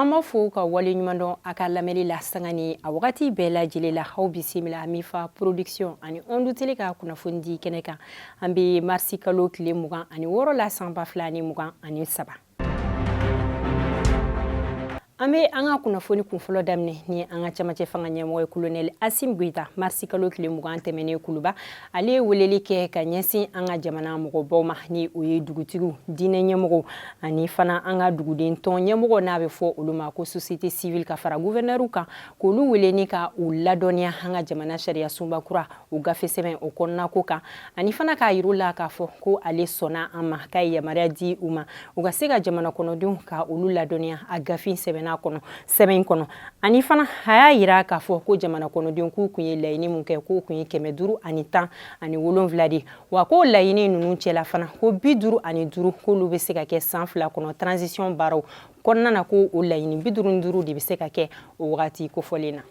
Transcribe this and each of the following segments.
an b'a fo ka waleɲumandɔn a ka lamɛnni la sanga ni a wagati bɛɛ lajɛlen la aw bisimila mifa production ani ondu tele ka kunnafoni di kɛnɛ kan an bɛ marisi kalo tile mugan ani wɔɔrɔ la san ba fila ani mugan ani saba an bɛ an ka kunnafoni kunfɔlɔ daminɛ ni an ka cɛmancɛ fanga ɲɛmɔgɔ ye kolonɛli asim goyita marisi kalo tile mugan tɛmɛnen kuluba ale ye weleli kɛ ka ɲɛsin an ka jamana mɔgɔbaw ma ni o ye dugutigiw diinɛ ɲɛmɔgɔw ani fana an ka duguden tɔn ɲɛmɔgɔ n'a bɛ fɔ olu ma ko sosiyete sivili ka fara guvɛrinɛriw kan k'olu wele ni ka u ladɔnniya an ka jamana sariyasunba kura o gafe sɛbɛn o kɔnɔnako kan ani fana k'a yir'u la k'a fɔ ko ale sɔnna a ma k'a ye yamaruya di u ma u ka se ka jamana kɔnɔdenw ka olu ladɔnniya a gafe sɛbɛnna kɔnɔ sɛbɛn in kɔnɔ ani fana a y'a yira k'a fɔ ko jamana kɔnɔdenw k'u kun ye laɲini mun kɛ k'u kun ye kɛmɛ duuru ani tan ani wolonwula de wa k'o laɲini ninnu cɛla fana ko bi duuru ani duuru k'olu bɛ se ka kɛ san fila kɔnɔ transition baaraw kɔnɔna na ko o laɲini bi duuru ni duuru de bɛ se ka kɛ o wagati kofɔlen na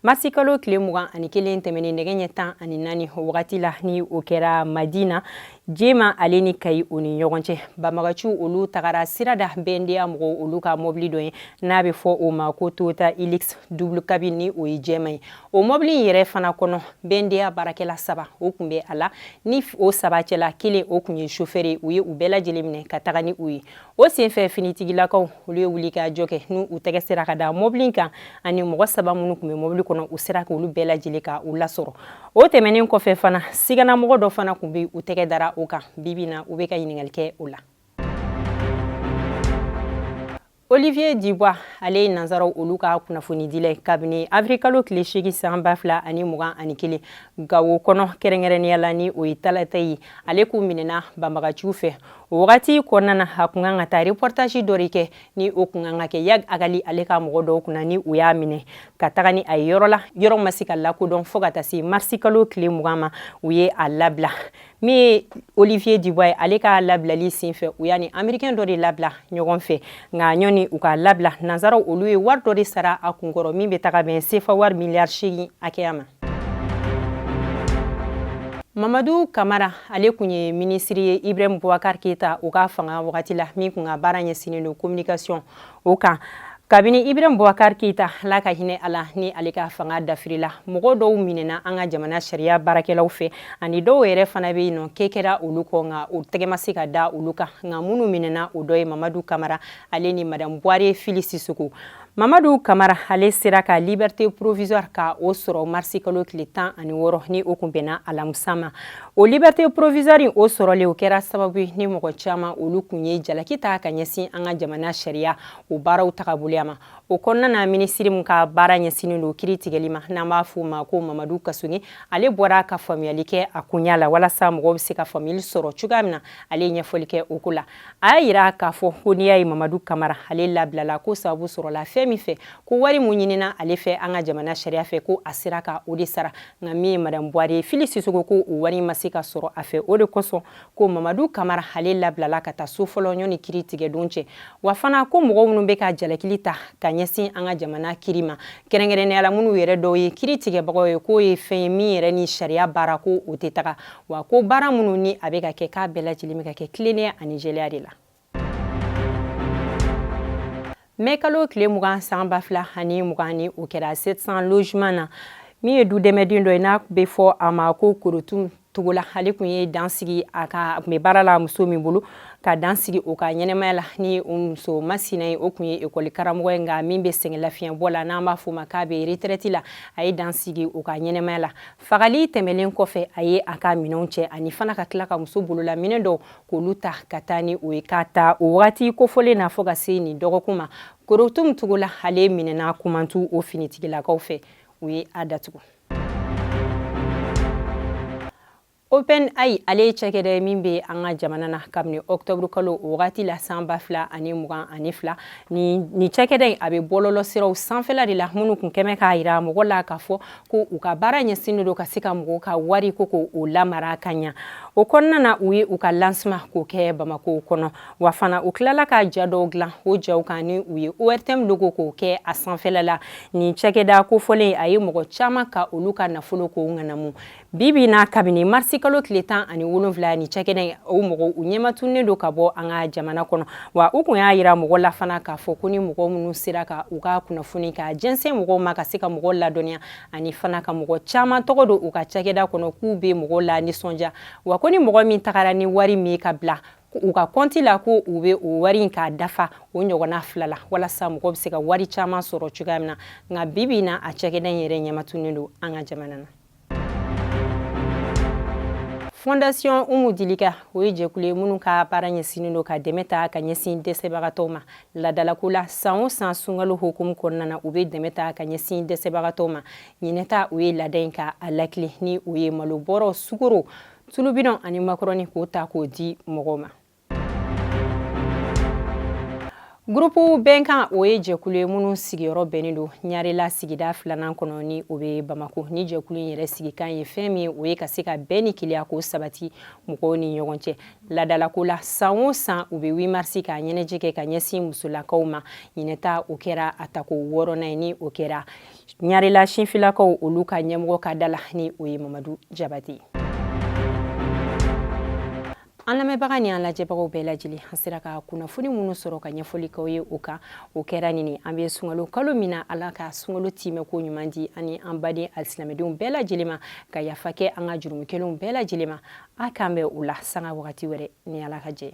marisi kalo tile mugan ani kelen tɛmɛnen nɛgɛ ɲɛ tan ani naani o wagati la ni o kɛra madina jema ale ni kayi o ni ɲɔgɔn cɛ banbagaciw olu tagara sira da bnda mɔgɔw olu ka mɔbili dɔ ye n'a bɛ fɔ o ma ko toyota hilux double cabine ni o ye jɛma ye o mɔbili in yɛrɛ fana kɔnɔ bnda baarakɛla saba o kun bɛ a la ni o saba cɛla kelen o kun ye sofɛri ye u ye u bɛɛ lajɛlen minɛ ka taga ni u ye o senfɛ finitigilakaw olu ye wuli ka jɔ kɛ n'u u tɛgɛ sera ka da mɔbili kan ani mɔgɔ saba minnu kun bɛ mɔbili kɔnɔ u sera k'olu bɛɛ lajɛlen ka u lasɔrɔ o tɛmɛnen kɔfɛ fana siganamɔgɔ dɔ fana kun bɛ u tɛgɛ dara o kan bibi na u bɛ ka ɲininkali kɛ o la olivier dibois ale ye nansaraw olu ka kunnafonidila kabini avril kalo tile seegin san ba fila ani mugan ani kelen gawo kɔnɔ kɛrɛnkɛrɛnnenya la ni o ye talataye ale kun minɛna banbagaciw fɛ o wagati kɔnɔna na a kun kan ka taa reportage dɔ de kɛ ni o kun kan ka kɛ iyad ag ghali ale ka mɔgɔ dɔw kunna ni u y'a minɛ ka taga ni a ye yɔrɔ la yɔrɔ ma se ka lakodɔn fo ka taa se marisi kalo tile mugan ma u ye a labila min ye olivier dubois ye ale ka labilali sen fɛ u y'a ni amerikɛn dɔ de labila ɲɔgɔn fɛ nka yanni u ka labila nansaraw olu ye wari dɔ de sara a kunkɔrɔ min bɛ taga bɛn sefa wari miliyari seegin hakɛya ma mamadu kamara ale kun ye minisiri ye ibrahim bubakar keyita o ka fanga wagati la min kun ka baara ɲɛsinnen don communication o kan kabini ibrahim bubakar keyita ala ka hinɛ a la ni ale ka fanga dafirila mɔgɔ dɔw minɛna an ka jamana sariya baarakɛlaw fɛ ani dɔw yɛrɛ fana bɛ yen nɔgɛn kɛra olu kɔ nka o tɛgɛ ma se ka da olu kan nka minnu minɛna o dɔ ye mamadu kamara ale ni madame buware fili sisoko mamadu kamara ale sera ka liberté provisoire ka o sɔrɔ marisi kalo tile tan ani wɔɔrɔ ni o kun bɛnna alamusa ma o liberté provisoire in o sɔrɔlen o kɛra sababu ni mɔgɔ caman olu kun ye jalaki ta ka ɲɛsin an ka jamana sariya o baaraw tagaboloya ma o kɔnɔna na minisiri min ka baara ɲɛsinnen don kiri tigɛli ma n'an b'a fɔ o ma ko mamadu kasoge ale bɔra ka faamuyali kɛ a koɲa la walasa mɔgɔw bɛ se ka faamuyali sɔrɔ cogoya min na ale ye ɲɛfɔli kɛ o ko la a y'a yira k'a fɔ ko n'i y'a ye mamadu kamara ale labilala ko sababu sɔrɔla fɛn min fɛ ko wari mun ɲinina ale fɛ an ka jamana sariya fɛ ko a sera ka o de sara nka min ye madame buware fili sisoko ko o wari ma se ka sɔrɔ a fɛ o de kosɔn ko mamadu kamara ale labilala ka taa so fɔlɔ yanni kiri tigɛdon cɛ wa fana ko mɔgɔ minnu bɛ ka jalakili ta ka ɲɛsin an ka jamana kiri ma kɛrɛnkɛrɛnnenya la minnu yɛrɛ dɔw ye kiri tigɛbagaw ye k'o ye fɛn ye min yɛrɛ ni sariya baara ko o tɛ taga wa ko baara minnu ni a bɛ ka kɛ k'a bɛɛ lajɛlen bɛ ka kɛ tilennenya ani jɛlenya de la mɛkalo tile mugan san ba fila ani mugan ni o kɛra sept cents logements na min ye du dɛmɛden dɔ ye n'a bɛ fɔ a ma ko korotum togola ale tun ye dan sigi a ka tun bɛ baara la muso min bolo ka dan sigi o ka ɲɛnɛmaya la ni o muso masina ye o tun ye ekɔli karamɔgɔ ye nka min bɛ sɛgɛn lafiɲɛbɔ la n'an b'a fɔ o ma k'a bɛ retraite la a ye dan sigi o ka ɲɛnɛmaya la fagali tɛmɛlen kɔfɛ a ye a ka minɛnw cɛ ani fana ka tila ka muso bolola minɛn dɔw k'olu ta ka taa ni o ye k'a ta o wagati kofɔlen na fɔ ka se nin dɔgɔkun ma korotum togola ale minɛna kumantu o finitigilakaw fɛ u ye a datugu open ai ale ye cakɛda min bɛ an ka jamana na kabini ɔktɔburu kalo o wagati la san ba fila ani mugan ani fila nin cakɛda in a bɛ bɔlɔlɔ siraw sanfɛla de la minnu kun kɛmɛ k'a yira mɔgɔ la k'a fɔ ko u ka baara ɲɛsinnen don ka se ka mɔgɔw ka wari k'o lamara ka ɲa o kɔnɔna na u ye u ka lancement k'o kɛ bamako kɔnɔ wa fana u tilala ka ja dɔw dilan o jaw kan ni u ye ortm logo k'o kɛ a sanfɛla la nin cakɛda kofɔlen a ye mɔgɔ caman ka olu ka nafolo k'o ŋanamu bi bi na kabini marisi kalo tile tan ani wolonwula ni cakɛda o mɔgɔw u ɲɛmatunnen don ka bɔ an ka jamana kɔnɔ wa u kun y'a yira mɔgɔ la fana k'a fɔ ko ni mɔgɔ minnu sera ka u ka kunnafoni k'a jɛnsɛn mɔgɔw ma ka se ka mɔgɔ ladɔnniya ani fana ka mɔgɔ caman tɔgɔ don u ka cakɛda kɔnɔ k'u bɛ mɔgɔw lanisɔndiya wa ko ni mɔgɔ min tagara ni wari min ka bila u ka kɔnti la ko u bɛ o wari in k'a dafa o ɲɔgɔnna fila la walasa mɔgɔ bɛ se ka wari caman sɔrɔ cogoya min na nka bi bi in na a cakɛda in yɛrɛ ɲɛmatunnen don an ka jamana na fondation umu dilika o ye jɛkulu ye minnu ka baara ɲɛsinnen don ka dɛmɛ ta ka ɲɛsin dɛsɛbagatɔw ma ladalako la san o san sunkalo hukumu kɔnɔna na u be dɛmɛ ta ka ɲɛsin dɛsɛbagatɔw ma ɲinɛta u ye lada in ka a lakili ni u ye malo bɔrɔ sukoro tulubidɔn ani makɔrɔni k'o ta k'o di mɔgɔw ma gurupu bɛnkan o ye jɛkulu ye minnu sigiyɔrɔ bɛnnen don ɲarela sigida filanan kɔnɔ ni o bɛ bamako ni jɛkulu in yɛrɛ sigikan ye fɛn min o ye ka se ka bɛn ni kelenya k'o sabati mɔgɔw ni ɲɔgɔn cɛ ladalako la san o san u bɛ wimarisi k'a ɲɛnajɛ kɛ ka ɲɛsin musolakaw ma ɲinɛta o kɛra a tako wɔɔrɔnan ye ni o kɛra ɲarela sinfilakaw olu ka ɲɛmɔgɔ ka da la ni o ye mamadu jabate an lamɛnbaga ni an lajɛbagaw bɛɛ lajɛlen an sera ka kunnafoni minnu sɔrɔ ka ɲɛfɔli k'aw ye o kan o kɛra nin ye an bɛ sunkalo kalo min na ala ka sunkalo timɛ ko ɲuman di an ni an baden alisilamedenw bɛɛ lajɛlen ma ka yafa kɛ an ka jurumu kɛlenw bɛɛ lajɛlen ma a k'an bɛn o la sanga wagati wɛrɛ ni ala ka jɛ